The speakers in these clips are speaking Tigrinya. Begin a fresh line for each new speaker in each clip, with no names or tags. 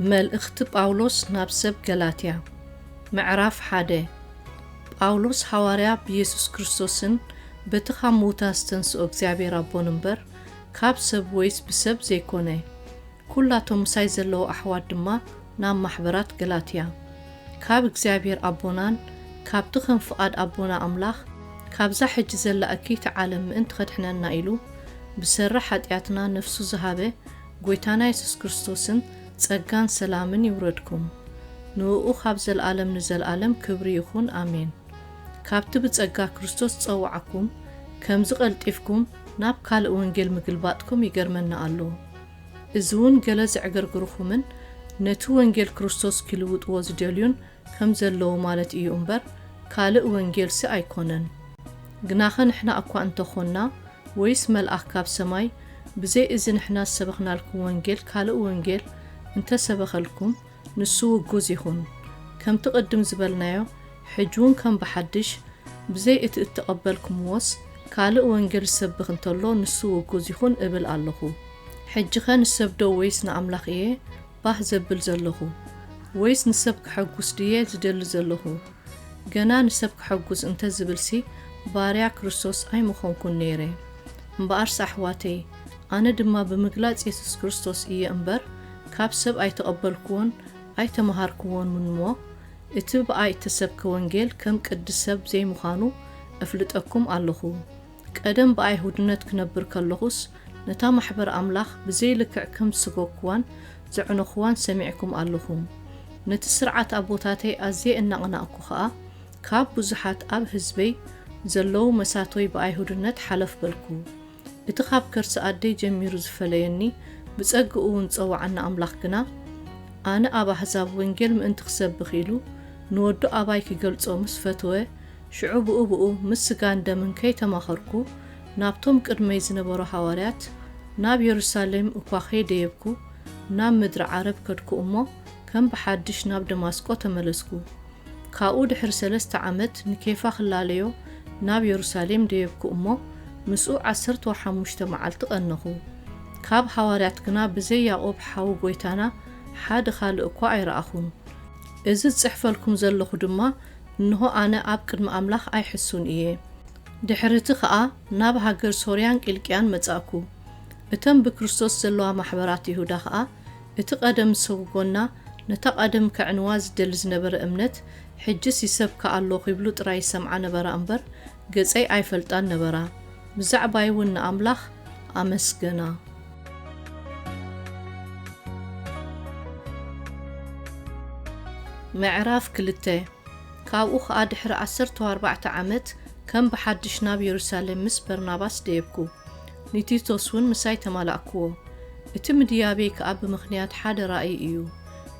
መልእኽቲ ጳውሎስ ናብ ሰብ ገላትያ ምዕራፍ ሓደ ጳውሎስ ሓዋርያ ብየሱስ ክርስቶስን በቲ ካብ ምዉታ ዝተንስኦ እግዚኣብሔር ኣቦን እምበር ካብ ሰብ ወይስ ብሰብ ዘይኮነ ኵላቶም ምሳይ ዘለዉ ኣሕዋት ድማ ናብ ማሕበራት ገላትያ፣ ካብ እግዚኣብሄር ኣቦናን ካብቲ ኸም ፍቓድ ኣቦና ኣምላኽ ካብዛ ሕጂ ዘላ እክይቲ ዓለም ምእንቲ ኸድሕነና ኢሉ ብሰሪ ሓጢኣትና ነፍሱ ዝሃበ ጐይታና የሱስ ክርስቶስን ጸጋን ሰላምን ይውረድኩም። ንእኡ ኻብ ዘለኣለም ንዘለኣለም ክብሪ ይኹን፣ ኣሜን። ካብቲ ብጸጋ ክርስቶስ ዝጸውዓኩም ከምዚ ቐልጢፍኩም ናብ ካልእ ወንጌል ምግልባጥኩም ይገርመኒ ኣሎ። እዚውን ገለ ዘዕገርግርኹምን ነቲ ወንጌል ክርስቶስ ኪልውጥዎ ዚደልዩን ከም ዘለዉ ማለት እዩ እምበር፣ ካልእ ወንጌልሲ ኣይኮነን። ግናኸ ንሕና እኳ እንተ ኾንና፣ ወይስ መልኣኽ ካብ ሰማይ፣ ብዘይ እዚ ንሕና ዝሰበኽናልኩም ወንጌል ካልእ ወንጌል እንተ ሰበኸልኩም፣ ንሱ ውጉዝ ይኹን ከምቲ ቅድም ዝበልናዮ ሕጂውን ከም ብሓድሽ ብዘይ እቲ እተቐበልኩምዎስ ካልእ ወንጌል ዝሰብኽ እንተሎ ንሱ ውጉዝ ይኹን እብል ኣሎኹ። ሕጂኸ ንሰብዶ ወይስ ንኣምላኽ እየ ባህ ዘብል ዘሎኹ? ወይስ ንሰብ ከሐጉስ ድየ ዝደሊ ዘሎኹ? ገና ንሰብ ከሐጉስ እንተ ዝብልሲ ባርያ ክርስቶስ ኣይምኾንኩን ነይረ። እምበኣርስ ኣሕዋተይ ኣነ ድማ ብምግላጽ የሱስ ክርስቶስ እየ እምበር ካብ ሰብ ኣይተቐበልኩዎን ኣይተመሃርኩዎንምንሞ፣ እቲ ብኣይ እተሰብከ ወንጌል ከም ቅዲ ሰብ ዘይምዃኑ እፍልጠኩም ኣሎኹ። ቀደም ብኣይሁድነት ክነብር ከሎኹስ፣ ነታ ማሕበር ኣምላኽ ብዘይ ልክዕ ከም ዝሰጐግኩዋን ዘዕነኹዋን ሰሚዕኩም ኣሎኹም። ነቲ ስርዓት ኣቦታተይ ኣዝየ እናቕናእኩ ኸኣ፣ ካብ ብዙሓት ኣብ ህዝበይ ዘለዉ መሳቶይ ብኣይሁድነት ሓለፍ በልኩ። እቲ ኻብ ከርሲ ኣደይ ጀሚሩ ዝፈለየኒ፣ ብጸግኡውን ዝጸውዓኒ ኣምላኽ ግና፣ ኣነ ኣብ ኣህዛብ ወንጌል ምእንቲ ክሰብኽ ኢሉ፣ ንወዱ ኣባይ ኪገልጾ ምስ ፈትወ፣ ሽዑ ብኡብኡ ምስ ስጋን ደምን ከይተማኸርኩ፣ ናብቶም ቅድመይ ዝነበሩ ሃዋርያት፣ ናብ የሩሳሌም እኳ ከይደየብኩ፣ ናብ ምድሪ ዓረብ ከድኩ እሞ፣ ከም ብሓድሽ ናብ ደማስቆ ተመለስኩ። ካብኡ ድሕሪ ሰለስተ ዓመት ንኬፋ ክላለዮ ናብ የሩሳሌም ደየብኩ እሞ፣ ምስኡ ዓሰርተው ሓሙሽተ መዓልቲ ቐነኹ። ካብ ሃዋርያት ግና ብዘይ ያቆብ ሓው ጎይታና ሓደ ካልእ እኳ ኣይረኣኹን። እዚ ዝጽሕፈልኩም ዘለኹ ድማ እንሆ ኣነ ኣብ ቅድሚ ኣምላኽ ኣይሕሱን እየ። ድሕሪ እቲ ኸኣ ናብ ሃገር ሶርያን ቂልቅያን መጻእኩ። እተን ብክርስቶስ ዘለዋ ማሕበራት ይሁዳ ኸኣ እቲ ቀደም ዝሰጉጎና ነታ ቀደም ከዕንዋ ዝደሊ ዝነበረ እምነት ሕጅስ ይሰብካ ኣሎ ኺብሉ ጥራይ ይሰምዓ ነበራ እምበር ገጸይ ኣይፈልጣን ነበራ ብዛዕባይ እውን ንኣምላኽ ኣመስገና። ምዕራፍ ክልተ ካብኡ ኸኣ ድሕሪ ዓሰርተው ኣርባዕተ ዓመት ከም ብሓድሽ ናብ የሩሳሌም ምስ በርናባስ ደየብኩ፣ ንቲቶስውን ምሳይ ተማላእክዎ። እቲ ምድያበይ ከኣ ብምኽንያት ሓደ ራእይ እዩ፣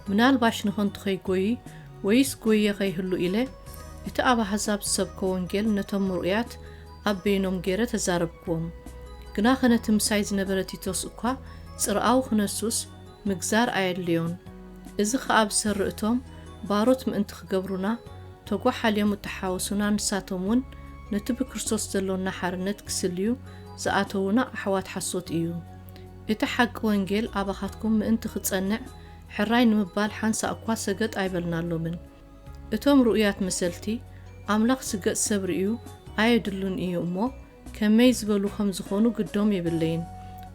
ምናልባሽ ንኸንቱ ኸይጎዪ ወይስ ጎዪየ ኸይህሉ ኢለ፣ እቲ ኣብ ኣሕዛብ ዝሰብኮ ወንጌል ነቶም ምርኡያት ኣብ በይኖም ገይረ ተዛረብክዎም። ግናኸ ነቲ ምሳይ ዝነበረ ቲቶስ እኳ ጽርኣዊ ኽነሱስ፣ ምግዛር ኣየድልዮን። እዚ ከኣ ብሰሪ እቶም ባሮት ምእንቲ ክገብሩና ተጓሓልዮም እተሓወሱና ንሳቶም እውን ነቲ ብክርስቶስ ዘሎና ሓርነት ክስልዩ ዝኣተዉና ኣሕዋት ሓሶት እዩ። እቲ ሓቂ ወንጌል ኣባኻትኩም ምእንቲ ክጸንዕ ሕራይ ንምባል ሓንሳእ እኳ ሰገጥ ኣይበልናሎምን። እቶም ርኡያት መሰልቲ ኣምላኽ ስገጥ ሰብ ርእዩ ኣየድሉን እዩ እሞ ከመይ ዝበሉ ከም ዝኾኑ ግዶም የብለይን፣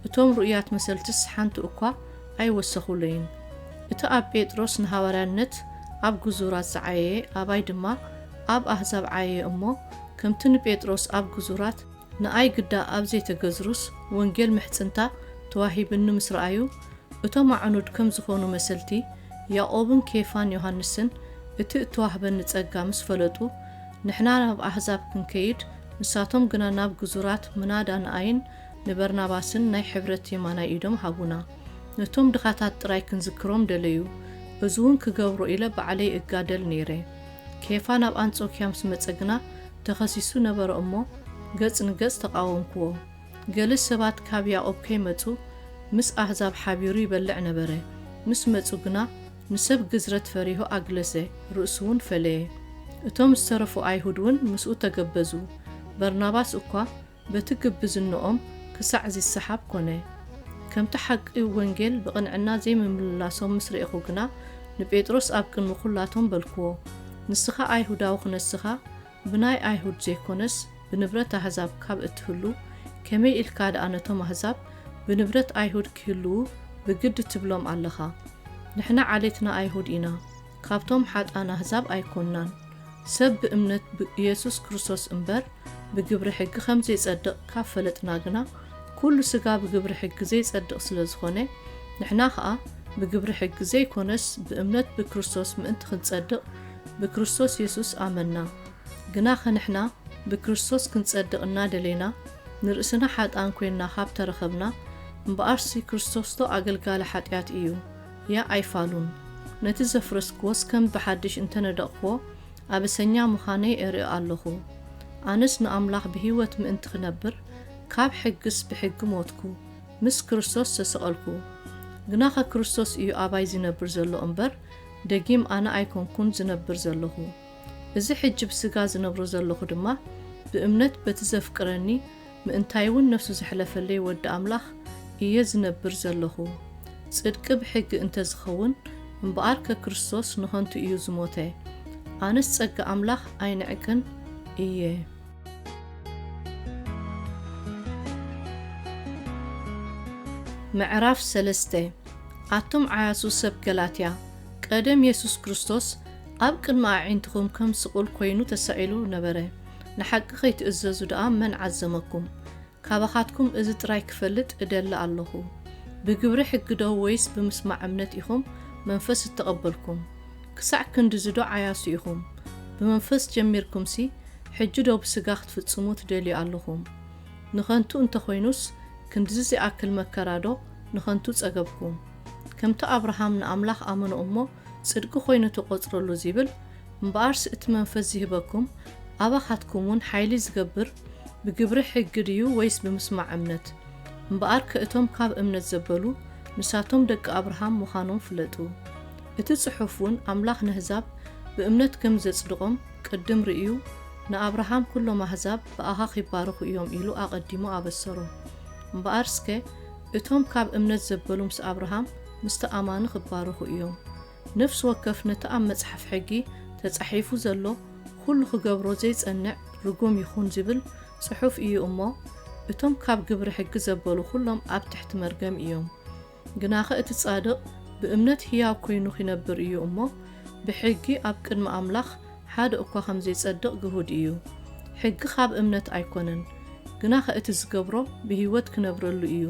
እቶም ርኡያት መሰልትስ ሓንቲ እኳ ኣይወሰኹለይን። እቲ ኣብ ጴጥሮስ ንሃዋርያነት ኣብ ግዙራት ዝዓየየ ኣባይ ድማ ኣብ ኣህዛብ ዓየየ እሞ፣ ከምቲ ንጴጥሮስ ኣብ ግዙራት፣ ንኣይ ግዳ ኣብ ዘይተገዝሩስ ወንጌል ምሕጽንታ ተዋሂብኒ ምስ ረኣዩ፣ እቶም ኣዕኑድ ከም ዝኾኑ መሰልቲ ያእቆብን ኬፋን ዮሃንስን እቲ እተዋህበኒ ጸጋ ምስ ፈለጡ፣ ንሕና ናብ ኣህዛብ ክንከይድ ንሳቶም ግና ናብ ግዙራት ምናዳ ንኣይን ንበርናባስን ናይ ሕብረት የማናይ ኢዶም ሃቡና። ነቶም ድኻታት ጥራይ ክንዝክሮም ደለዩ። እዚውን ክገብሮ ኢለ ባዕለይ እጋደል ነይረ። ኬፋ ናብ ኣንጾክያ ምስ መጸ ግና ተኸሲሱ ነበረ እሞ ገጽ ንገጽ ተቓወምክዎ። ገሊ ሰባት ካብ ያቆብ ከይመጹ ምስ ኣህዛብ ሓቢሩ ይበልዕ ነበረ። ምስ መጹ ግና ንሰብ ግዝረት ፈሪሁ ኣግለሰ፣ ርእሱውን ፈለየ። እቶም ዝተረፉ ኣይሁድውን ምስኡ ተገበዙ፣ በርናባስ እኳ በቲ ግብዝነኦም ክሳዕ ዚሰሓብ ኰነ። ከምቲ ሓቂ ወንጌል ብቕንዕና ዘይምምልላሶም ምስ ርኤኹ ግና፣ ንጴጥሮስ ኣብ ቅድሚ ዅላቶም በልክዎ፣ ንስኻ ኣይሁዳዊ ኽነስኻ፣ ብናይ ኣይሁድ ዘይኮነስ ብንብረት ኣህዛብ ካብ እትህሉ ከመይ ኢልካ ደኣ ነቶም ኣህዛብ ብንብረት ኣይሁድ ኪህልዉ ብግዲ ትብሎም ኣለኻ? ንሕና ዓሌትና ኣይሁድ ኢና ካብቶም ሓጥኣን ኣህዛብ ኣይኮንናን። ሰብ ብእምነት ብ ኢየሱስ ክርስቶስ እምበር ብግብሪ ሕጊ ከም ዘይጸድቕ ካብ ፈለጥና ግና ኩሉ ስጋ ብግብሪ ሕጊ ዘይጸድቕ ስለ ዝኾነ ንሕና ከኣ ብግብሪ ሕጊ ዘይኮነስ ብእምነት ብክርስቶስ ምእንቲ ክንጸድቕ ብክርስቶስ የሱስ ኣመንና። ግናኸ ንሕና ብክርስቶስ ክንጸድቕ እናደሌና ንርእስና ሓጥኣን ኮይንና ካብ ተረኸብና፣ እምበኣርሲ ክርስቶስዶ ኣገልጋሊ ሓጢኣት እዩ? ያእ ኣይፋሉን። ነቲ ዘፍረስክዎስ ከም ብሓድሽ እንተ ነደቕክዎ ኣበሰኛ ምዃነይ ኤርኢ ኣሎኹ። ኣነስ ንኣምላኽ ብህይወት ምእንቲ ክነብር ካብ ሕግስ ብሕጊ ሞትኩ፣ ምስ ክርስቶስ ተሰቐልኩ። ግናኸ ክርስቶስ እዩ ኣባይ ዚነብር ዘሎ እምበር ደጊም ኣነ ኣይኮንኩን ዝነብር ዘሎኹ፣ እዚ ሕጂ ብስጋ ዝነብሮ ዘሎኹ ድማ ብእምነት በቲ ዘፍቅረኒ ምእንታይውን ነፍሱ ዘሕለፈለይ ወዲ ኣምላኽ እየ ዝነብር ዘሎኹ። ጽድቂ ብሕጊ እንተ ዝኸውን እምበኣርከ ክርስቶስ ንኸንቱ እዩ ዝሞተ። ኣነስ ጸጋ ኣምላኽ ኣይንዕቅን እየ። ምዕራፍ ሰለስተ ኣቱም ዓያሱ ሰብ ገላትያ፣ ቀደም የሱስ ክርስቶስ ኣብ ቅድሚ ኣዒንትኹም ከም ስቑል ኰይኑ ተሳኢሉ ነበረ። ንሓቂ ኸይትእዘዙ ደኣ መን ዓዘመኩም? ካባኻትኩም እዚ ጥራይ ክፈልጥ እደሊ ኣሎኹ። ብግብሪ ሕጊዶ ወይስ ብምስማዕ እምነት ኢኹም መንፈስ እተቐበልኩም? ክሳዕ ክንድዚዶ ዓያሱ ኢኹም? ብመንፈስ ጀሚርኩምሲ፣ ሕጂዶ ብስጋ ክትፍጽሙ ትደልዩ ኣሎኹም? ንኸንቱ እንተ ዀይኑስ፣ ክንድዚ ዚኣክል መከራዶ ንኸንቱ ጸገብኩም። ከምቲ ኣብርሃም ንኣምላኽ ኣመኖ እሞ ጽድቂ ኮይኑ ተቆጽረሉ ዚብል፣ እምበኣርስ እቲ መንፈስ ዚህበኩም ኣባኻትኩምውን ሓይሊ ዚገብር ብግብሪ ሕጊ ድዩ ወይስ ብምስማዕ እምነት? እምበኣርከ እቶም ካብ እምነት ዘበሉ ንሳቶም ደቂ ኣብርሃም ምዃኖም ፍለጡ። እቲ ጽሑፍውን ኣምላኽ ነህዛብ ብእምነት ከም ዘጽድቖም ቅድም ርእዩ ንኣብርሃም ኩሎም ኣህዛብ ብኣኻ ኺባረኹ እዮም ኢሉ ኣቐዲሙ ኣበሰሮ። እምበኣርስከ እቶም ካብ እምነት ዘበሉ ምስ ኣብርሃም ምስቲ ኣማኒ ክባረኹ እዮም። ነፍሲ ወከፍ ነቲ ኣብ መጽሓፍ ሕጊ ተጻሒፉ ዘሎ ኹሉ ክገብሮ ዘይጸንዕ ርጉም ይኹን ዚብል ጽሑፍ እዩ እሞ እቶም ካብ ግብሪ ሕጊ ዘበሉ ኹሎም ኣብ ትሕቲ መርገም እዮም። ግናኸ እቲ ጻድቕ ብእምነት ህያው ኮይኑ ኺነብር እዩ እሞ ብሕጊ ኣብ ቅድሚ ኣምላኽ ሓደ እኳ ከም ዜጸድቕ ግሁድ እዩ። ሕጊ ኻብ እምነት ኣይኰነን፣ ግናኸ እቲ ዚገብሮ ብህይወት ኪነብረሉ እዩ።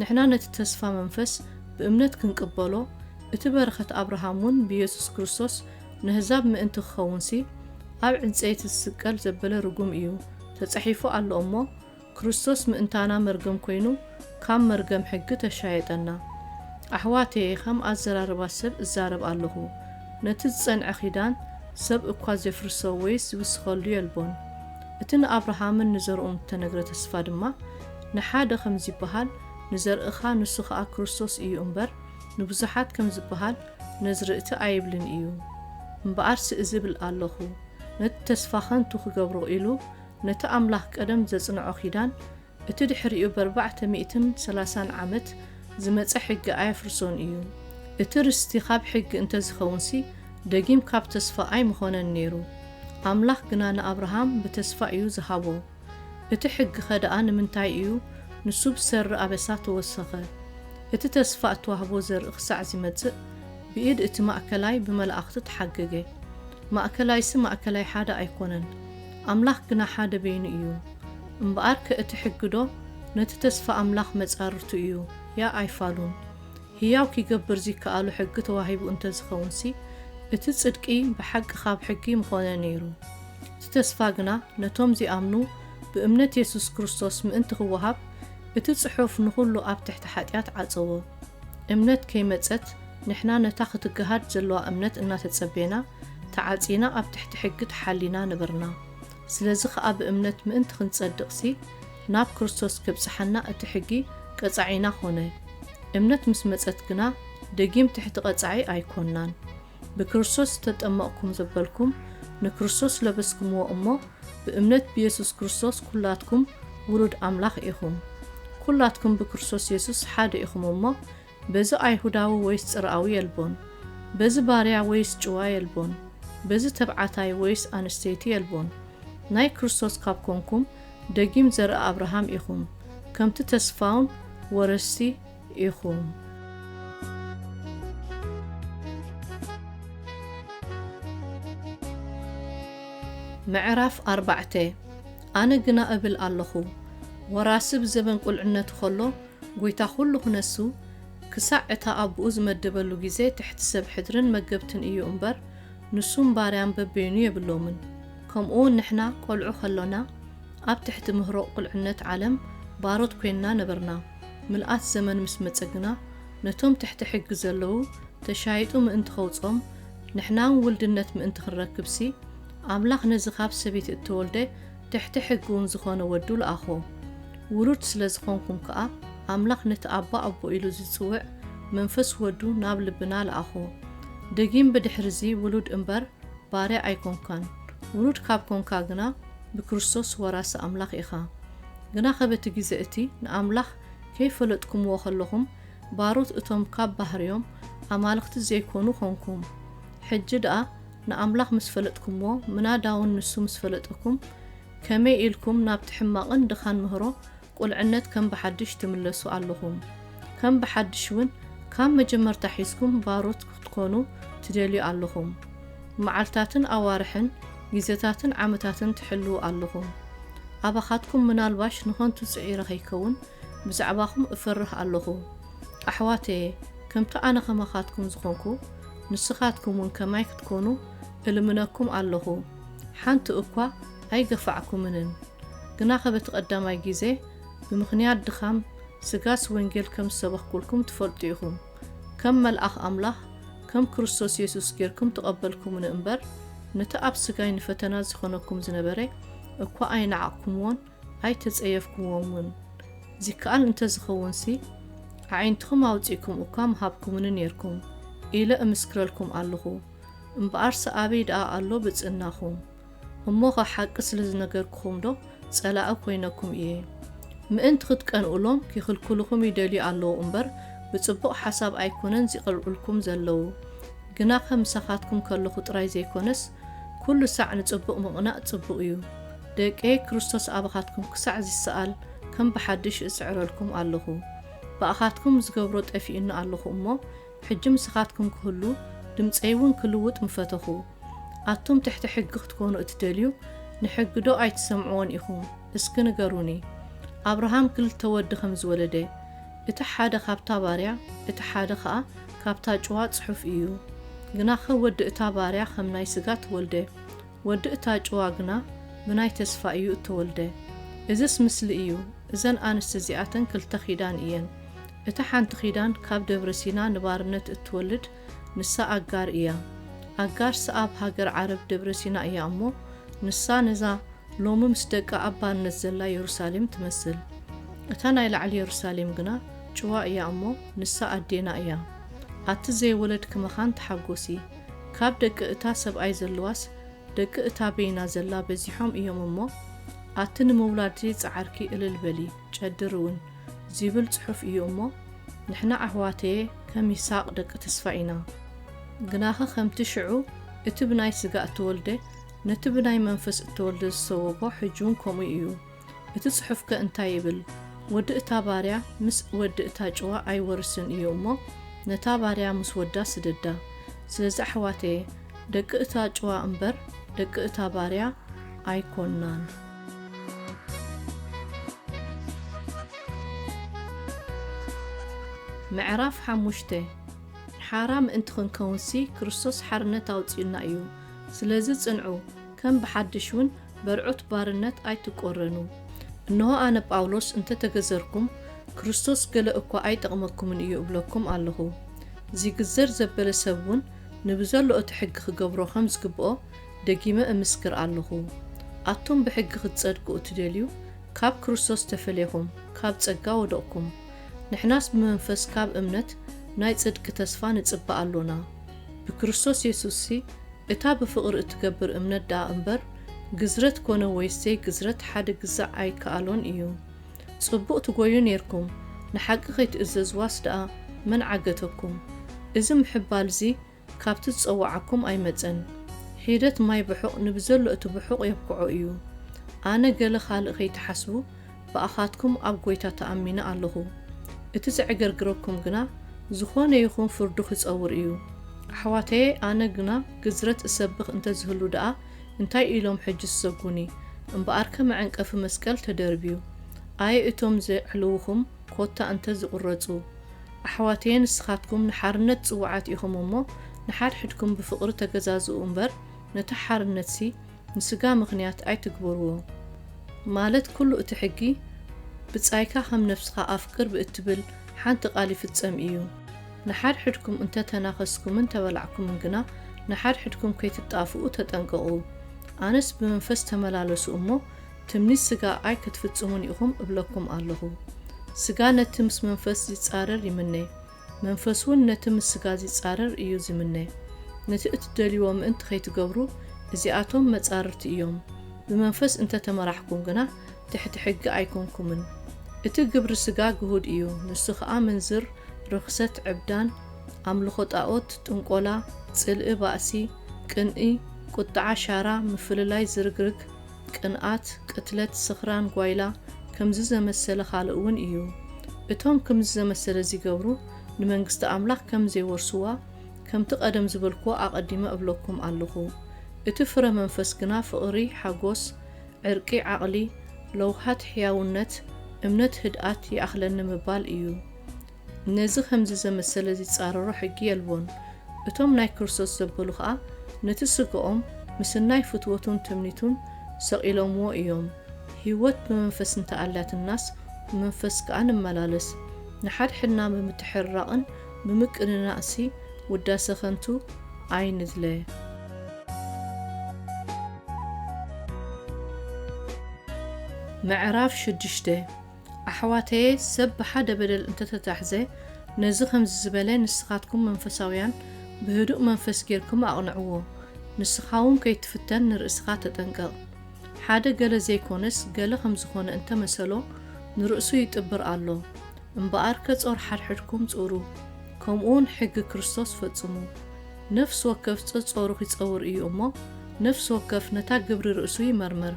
ንሕና ነቲ ተስፋ መንፈስ ብእምነት ክንቅበሎ፣ እቲ በረኸት ኣብርሃም እውን ብየሱስ ክርስቶስ ነህዛብ ምእንቲ ኪኸውንሲ፣ ኣብ ዕንጸይቲ ዚስቀል ዘበለ ርጉም እዩ ተጻሒፉ ኣሎ እሞ፣ ክርስቶስ ምእንታና መርገም ኮይኑ ካብ መርገም ሕጊ ተሻየጠና። ኣሕዋተየ ከም ኣዘራርባ ሰብ እዛረብ ኣለኹ ነቲ ዝጸንዐ ኪዳን ሰብ እኳ ዜፍርሶ ወይስ ዚውስኸሉ የልቦን። እቲ ንኣብርሃምን ንዘርኡን እተነግረ ተስፋ ድማ ንሓደ ከም ዚብሃል ንዘርእኻ ንሱ ኸኣ ክርስቶስ እዩ እምበር ንብዙሓት ከም ዚብሃል ነዝርእቲ ኣይብልን እዩ እምብኣርሲ እዝብል ኣለኹ ነቲ ተስፋ ከንቱ ክገብሮ ኢሉ ነቲ ኣምላኽ ቀደም ዘጽንዖ ኪዳን፣ እቲ ድሕሪኡ በርባዕተ ሚእትን ሰላሳን ዓመት ዝመጸ ሕጊ ኣየፍርሶን እዩ። እቲ ርስቲ ካብ ሕጊ እንተ ዚኸውንሲ፣ ደጊም ካብ ተስፋ ኣይምዀነን ነይሩ። ኣምላኽ ግና ንኣብርሃም ብተስፋ እዩ ዝሃቦ። እቲ ሕጊኸ ደኣ ንምንታይ እዩ ንሱ ብሰሪ ኣበሳ ተወሰኸ? እቲ ተስፋ እተዋህቦ ዘርኢ ኽሳዕ ዚመጽእ፣ ብኢድ እቲ ማእከላይ ብመላእኽቲ ተሓገገ። ማእከላይሲ ማእከላይ ሓደ ኣይኰነን። ኣምላኽ ግና ሓደ በይኑ እዩ። እምበኣርከ እቲ ሕግዶ ነቲ ተስፋ ኣምላኽ መጻርርቱ እዩ፣ ያእ ኣይፋሉን። ህያው ኪገብር ዚከኣሎ ሕጊ ተዋሂቡ እንተ ዚኸውንሲ፣ እቲ ጽድቂ ብሓቂ ኻብ ሕጊ ምዀነ ነይሩ። እቲ ተስፋ ግና ነቶም ዚኣምኑ ብእምነት የሱስ ክርስቶስ ምእንቲ ኺወሃብ፣ እቲ ጽሑፍ ንዅሉ ኣብ ትሕቲ ሓጢኣት ዓጸዎ። እምነት ከይመጸት፣ ንሕና ነታ ክትገሃድ ዘለዋ እምነት እናተጸበና ተዓጺና ኣብ ትሕቲ ሕጊ ተሓሊና ነበርና። ስለዚ ኸኣ ብእምነት ምእንቲ ክንጸድቕሲ ናብ ክርስቶስ ኬብጽሓና እቲ ሕጊ ቀጻዒና ዀነ። እምነት ምስ መጸት ግና ደጊም ትሕቲ ቐጻዒ ኣይኰንናን። ብክርስቶስ ዝተጠመቕኩም ዘበልኩም ንክርስቶስ ለበስኩምዎ እሞ ብእምነት ብየሱስ ክርስቶስ ኵላትኩም ውሉድ ኣምላኽ ኢኹም። ኵላትኩም ብክርስቶስ የሱስ ሓደ ኢኹም እሞ በዚ ኣይሁዳዊ ወይስ ጽርኣዊ የልቦን፣ በዚ ባርያ ወይስ ጭዋ የልቦን፣ በዚ ተብዓታይ ወይስ ኣንስተይቲ የልቦን፣ ናይ ክርስቶስ ካብ ኮንኩም፣ ደጊም ዘርኢ ኣብርሃም ኢኹም፣ ከምቲ ተስፋውን ወረስቲ ኢኹም። ምዕራፍ ኣርባዕተ ኣነ ግና እብል ኣሎኹ፣ ወራሲ ብዘበን ቁልዕነቱ ኸሎ፣ ጎይታ ኩሉ ክነሱ ክሳዕ እታ ኣቡኡ ዝመደበሉ ግዜ ትሕቲ ሰብ ሕድርን መገብትን እዩ እምበር ንሱን ባርያን በበይኑ የብሎምን ከምኡውን ንሕና ቆልዑ ከሎና ኣብ ትሕቲ ምህሮቕ ቁልዕነት ዓለም ባሮት ኮይንና ነበርና ምልኣት ዘመን ምስ መጸ ግና ነቶም ትሕቲ ሕጊ ዘለዉ ተሻይጡ ምእንቲ ከውጾም ንሕናውን ውልድነት ምእንቲ ክንረክብሲ ኣምላኽ ነዚ ካብ ሰበይቲ እተወልደ ትሕቲ ሕጊውን ዝኾነ ወዱ ለኣኾ። ውሉድ ስለ ዝኾንኩም ከኣ ኣምላኽ ነቲ ኣባ ኣቦ ኢሉ ዚጽውዕ መንፈስ ወዱ ናብ ልብና ለኣኾ። ደጊም ብድኅርዚ ውሉድ እምበር ባርያ ኣይኮንካን። ውሉድ ካብ ኮንካ ግና ብክርስቶስ ወራሲ ኣምላኽ ኢኻ። ግናኸ በቲ ጊዜ እቲ ንኣምላኽ ከይፈለጥኩምዎ ከለኹም ባሮት እቶም ካብ ባህርዮም ኣማልኽቲ ዘይኮኑ ኮንኩም። ሕጂ ደኣ ንኣምላኽ ምስ ፈለጥኩምዎ፣ ምናዳውን ንሱ ምስ ፈለጠኩም፣ ከመይ ኢልኩም ናብቲ ሕማቕን ድኻን ምህሮ ቁልዕነት ከም ብሓድሽ ትምለሱ ኣሎኹም? ከም ብሓድሽ ውን ካብ መጀመርታ ሒዝኩም ባሮት ክትኮኑ ትደልዩ ኣሎኹም? መዓልታትን ኣዋርሕን ግዜታትን ዓመታትን ትሕልዉ ኣሎኹም? ኣባኻትኩም ምናልባሽ ንኸንቱ ጽዒረ ከይከውን ብዛዕባኹም እፈርህ ኣሎኹ ኣሕዋተየ፣ ከምቲ ኣነ ከማኻትኩም ዝኾንኩ፣ ንስኻትኩምውን ከማይ ክትኮኑ እልምነኩም ኣሎኹ። ሓንቲ እኳ ኣይገፋዕኩምንን። ግናኸ በቲ ቀዳማይ ጊዜ ብምኽንያት ድኻም ስጋስ ወንጌል ከም ዝሰበኽኩልኩም ትፈልጡ ኢኹም፣ ከም መልኣኽ ኣምላኽ ከም ክርስቶስ የሱስ ጌርኩም ተቐበልኩምኒ እምበር፣ ነቲ ኣብ ስጋይ ንፈተና ዚኸነኩም ዝነበረ እኳ ኣይነዓቕኩምዎን፣ ኣይተጸየፍኩምዎምን። ዚከኣል እንተ ዚኸውንሲ፣ ኣዒንትኹም ኣውጺእኩም እኳ ምሃብኩምኒ ኔርኩም፣ ኢለ እምስክረልኩም ኣሎኹ። እምበኣርሲ ኣበይ ደኣ ኣሎ ብጽእናኹም? እሞኸ ሓቂ ስለ ዝነገርኩኹምዶ ጸላኢ ኰይነኩም እየ? ምእንቲ ኽትቀንኡሎም ኪኽልክሉኹም ይደልዩ ኣለዉ እምበር፣ ብጽቡቕ ሓሳብ ኣይኰነን ዚቐልዑልኩም ዘለዉ። ግናኸ ምሳኻትኩም ከሎኹ ጥራይ ዘይኰነስ፣ ኵሉ ሳዕ ንጽቡቕ ምቕናእ ጽቡቕ እዩ። ደቀይ ክርስቶስ ኣባኻትኩም ክሳዕ ዚሰኣል ከም ብሓድሽ እጽዕረልኩም ኣሎኹ። ብኣኻትኩም ዝገብሮ ጠፊኡኒ ኣሎኹ እሞ፣ ሕጂ ምሳኻትኩም ክህሉ ድምጸይውን ክልውጥ ምፈተኹ። ኣቱም ትሕቲ ሕጊ ክትኮኑ እትደልዩ፣ ንሕጊዶ ኣይትሰምዕዎን ኢኹም? እስኪ ንገሩኒ። ኣብርሃም ክልተ ወዲ ከም ዝወለደ፣ እቲ ሓደ ካብታ ባርያ፣ እቲ ሓደ ኸኣ ካብታ ጭዋ ጽሑፍ እዩ። ግናኸ ወዲ እታ ባርያ ኸም ናይ ስጋ ተወልደ፣ ወዲ እታ ጭዋ ግና ብናይ ተስፋ እዩ እተወልደ። እዝስ ምስሊ እዩ፣ እዘን ኣንስቲ እዚኣተን ክልተ ኪዳን እየን። እታ ሓንቲ ኪዳን ካብ ደብረ ሲና ንባርነት እትወልድ ንሳ ኣጋር እያ። ኣጋር ስኣብ ሃገር ዓረብ ደብረ ሲና እያ እሞ ንሳ ነዛ ሎሚ ምስ ደቃ ኣብ ባርነት ዘላ የሩሳሌም ትመስል። እታ ናይ ላዕሊ የሩሳሌም ግና ጭዋ እያ እሞ ንሳ ኣዴና እያ። ኣቲ ዘይወለድኪ መኻን ተሓጎሲ። ካብ ደቂ እታ ሰብኣይ ዘለዋስ ደቂ እታ በይና ዘላ በዚሖም እዮም እሞ ኣቲ ንምውላድ ዘይጸዓርኪ እልል በሊ ጨድሪ ውን ዚብል ጽሑፍ እዩ እሞ ንሕና ኣሕዋተየ ከም ይሳቅ ደቂ ተስፋይ ኢና ግናኸ ከምቲ ሽዑ እቲ ብናይ ስጋ እተወልደ ነቲ ብናይ መንፈስ እተወልደ ዝሰወቦ ሕጂ ውን ከምኡ እዩ እቲ ጽሑፍከ እንታይ ይብል? ወዲ እታ ባርያ ምስ ወዲ እታ ጭዋ ኣይወርስን እዩ እሞ ነታ ባርያ ምስ ወዳ ስደዳ። ስለዚ ኣሕዋተየ ደቂ እታ ጭዋ እምበር ደቂ እታ ባርያ ኣይኮናን። ምዕራፍ ሓሙሽተ ሓራ ምእንቲ ክንከውንሲ ክርስቶስ ሓርነት ኣውጺኡና እዩ። ስለዚ ጽንዑ፣ ከም ብሓድሽ እውን በርዑት ባርነት ኣይትቈረኑ። እንሆ ኣነ ጳውሎስ እንተ ተገዘርኩም፣ ክርስቶስ ገለ እኳ ኣይጠቕመኩምን እዩ እብለኩም ኣሎኹ። ዚግዘር ዘበለ ሰብውን ንብዘሎ እቲ ሕጊ ኺገብሮ ኸም ዝግብኦ ደጊመ እምስክር ኣሎኹ። ኣቱም ብሕጊ ኽትጸድቁ እትደልዩ፣ ካብ ክርስቶስ ተፈልኹም፣ ካብ ጸጋ ወደቕኩም። ንሕናስ ብመንፈስ ካብ እምነት ናይ ጽድቂ ተስፋ ንጽበ ኣሎና። ብክርስቶስ የሱስሲ እታ ብፍቕሪ እትገብር እምነት ደኣ እምበር፣ ግዝረት ኮነ ወይስ ዘይግዝረት ሓደ ግዛዕ ኣይከኣሎን እዩ። ጽቡቕ ትጎዩ ኔርኩም፣ ንሓቂ ከይትእዘዝዋስ ደኣ መን ዓገተኩም? እዚ ምሕባልዚ ካብቲ ዝጸወዓኩም ኣይመጸን። ሒደት ማይ ብሑቕ ንብዘሎ እቲ ብሑቕ የብክዖ እዩ። ኣነ ገለ ካልእ ከይትሓስቡ፣ ብኣኻትኩም ኣብ ጐይታ ተኣሚነ ኣሎኹ። እቲ ዜዕገርግረኩም ግና፣ ዝዀነ ይኹን ፍርዱ ኺጸውር እዩ። ኣሕዋተየ፣ ኣነ ግና ግዝረት እሰብኽ እንተ ዚህሉ ደኣ፣ እንታይ ኢሎም ሕጂ ዚሰጉኒ? እምበኣርከ መዐንቀፊ መስቀል ተደርብዩ፣ ኣየ እቶም ዜዕልዉኹም፣ ኰታ እንተ ዚቝረጹ። ኣሕዋተየ፣ ንስኻትኩም ንሓርነት ጽዉዓት ኢኹም እሞ፣ ንሓድሕድኩም ብፍቕሪ ተገዛዝኡ እምበር፣ ነታ ሓርነትሲ፣ ንስጋ ምኽንያት ኣይትግበርዎ ማለት ኩሉ እቲ ሕጊ ብጻይካ ከም ነፍስኻ ኣፍቅር ብእትብል ሓንቲ ቃል ይፍጸም እዩ። ንሓድሕድኩም እንተ ተናኸስኩምን ተበላዕኩምን ግና ንሓድሕድኩም ከይትጣፍኡ ተጠንቀቑ። ኣነስ ብመንፈስ ተመላለሱ እሞ ትምኒት ስጋ ኣይ ክትፍጽሙን ኢኹም እብለኩም ኣሎኹ። ስጋ ነቲ ምስ መንፈስ ዚጻረር ይምነ፣ መንፈስውን ነቲ ምስ ስጋ ዚጻረር እዩ ዚምነ። ነቲ እትደልይዎ ምእንቲ ኸይትገብሩ፣ እዚኣቶም መጻርርቲ እዮም። ብመንፈስ እንተ ተመራሕኩም ግና፣ ትሕቲ ሕጊ ኣይኰንኩምን። እቲ ግብሪ ስጋ ግሁድ እዩ፣ ንሱ ኸኣ፣ ምንዝር፣ ርኽሰት፣ ዕብዳን፣ ኣምልኾ ጣኦት፣ ጥንቈላ፣ ጽልኢ፣ ባእሲ፣ ቅንኢ፣ ቍጥዓ፣ ሻራ፣ ምፍልላይ፣ ዝርግርግ፣ ቅንኣት፣ ቅትለት፣ ስኽራን፣ ጓይላ፣ ከምዚ ዘመሰለ ኻልእ እውን እዩ። እቶም ክምዚ ዘመሰለ ዚገብሩ ንመንግስቲ ኣምላኽ ከም ዜወርስዋ፣ ከምቲ ቐደም ዝበልክዎ ኣቐዲመ እብለኩም ኣሎኹ። እቲ ፍረ መንፈስ ግና ፍቕሪ፣ ሓጐስ፣ ዕርቂ፣ ዓቕሊ፣ ለውሃት፣ ሕያውነት፣ እምነት፣ ህድኣት፣ ይኣኽለኒ ምባል እዩ። ነዚ ኸምዚ ዘመሰለ ዚጻረሮ ሕጊ የልቦን። እቶም ናይ ክርስቶስ ዘበሉ ኸኣ ነቲ ስጋኦም ምስናይ ፍትወቱን ትምኒቱን ሰቒሎምዎ እዮም። ህይወት ብመንፈስ እንተ ኣላትናስ ብመንፈስ ከኣ ንመላለስ። ንሓድሕድና ብምትሕርራቕን ብምቅንናእንሲ ውዳሰ ኸንቱ ኣይንድለ። ምዕራፍ ሽዱሽተ ኣሕዋተየ ሰብ ብሓደ በደል እንተተታሕዘ ነዚ ከምዚ ዝበለ ንስኻትኩም መንፈሳውያን ብህዱእ መንፈስ ጌርኩም ኣቕንዕዎ ንስኻውን ከይትፍተን ንርእስኻ ተጠንቀቕ ሓደ ገለ ዘይኮነስ ገለ ከምዝኾነ እንተመሰሎ ንርእሱ ይጥብር ኣሎ እምበኣርከ ጾር ሓድሕድኩም ጹሩ ከምኡውን ሕጊ ክርስቶስ ፈጽሙ ነፍሲ ወከፍ ጸጾሩ ኺጸውር እዩ እሞ ነፍሲ ወከፍ ነታ ግብሪ ርእሱ ይመርምር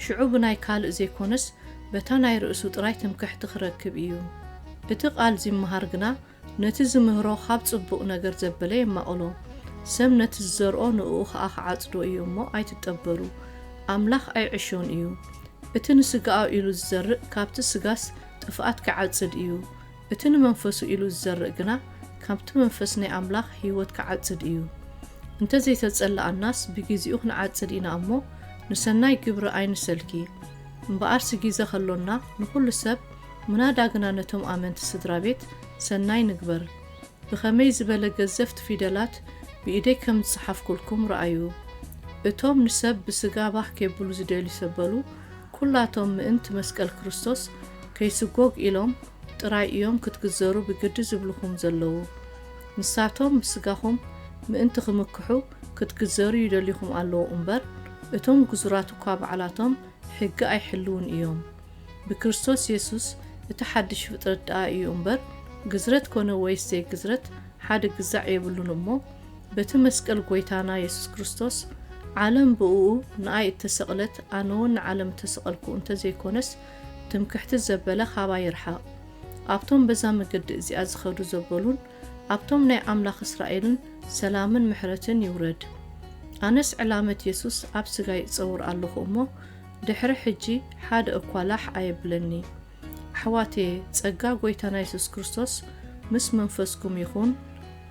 ሽዑ ብናይ ካልእ ዘይኮነስ በታ ናይ ርእሱ ጥራይ ትምክሕቲ ክረክብ ኢዩ። እቲ ቃል ዚመሃር ግና ነቲ ዚምህሮ ኻብ ጽቡቕ ነገር ዘበለ የማቕሎ። ሰብ ነቲ ዝዘርኦ ንእኡ ኸኣ ኺዓጽዶ እዩ እሞ ኣይትጠበሩ። ኣምላኽ ኣይዕሾን እዩ። እቲ ንስጋኡ ኢሉ ዚዘርእ ካብቲ ስጋስ ጥፍኣት ኪዓጽድ እዩ። እቲ ንመንፈሱ ኢሉ ዝዘርእ ግና ካብቲ መንፈስ ናይ ኣምላኽ ህይወት ክዓጽድ እዩ። እንተ ዘይተጸላኣናስ ብጊዜኡ ክንዓጽድ ኢና እሞ ንሰናይ ግብሪ ኣይንሰልኪ። እምበኣርሲ ጊዘ ከሎና ንኹሉ ሰብ ምናዳ ግና ነቶም ኣመንቲ ስድራቤት ሰናይ ንግበር። ብኸመይ ዝበለ ገዘፍቲ ፊደላት ብኢደይ ከም ዝጸሓፍኩልኩም ርኣዩ። እቶም ንሰብ ብስጋ ባህ ኬብሉ ዝደልዩ ሰብ በሉ ኩላቶም ምእንቲ መስቀል ክርስቶስ ከይስጎግ ኢሎም ጥራይ እዮም ክትግዘሩ ብግዲ ዝብልኹም ዘለዉ። ንሳቶም ምስ ስጋኹም ምእንቲ ክምክሑ ክትግዘሩ ይደልዩኹም ኣለዉ እምበር እቶም ግዙራት እኳ ባዕላቶም ሕጊ ኣይሕልዉን እዮም። ብክርስቶስ የሱስ እቲ ሓድሽ ፍጥረት ደኣ እዩ እምበር ግዝረት ኮነ ወይስ ዘይግዝረት ሓደ ግዛዕ የብሉን እሞ በቲ መስቀል ጎይታና የሱስ ክርስቶስ ዓለም ብእኡ ንኣይ እተሰቕለት ኣነውን ንዓለም እተሰቐልኩ እንተ ዘይኮነስ ትምክሕቲ ዘበለ ኻባይ ይርሓቕ። ኣብቶም በዛ መገዲ እዚኣ ዝኸዱ ዘበሉን ኣብቶም ናይ ኣምላኽ እስራኤልን ሰላምን ምሕረትን ይውረድ። ኣነስ ዕላመት የሱስ ኣብ ስጋይ እጸውር ኣለኹ እሞ ድሕሪ ሕጂ ሓደ እኳ ላሕ ኣየብለኒ። ኣሕዋትየ ጸጋ ጎይታና የሱስ ክርስቶስ ምስ መንፈስኩም ይኹን።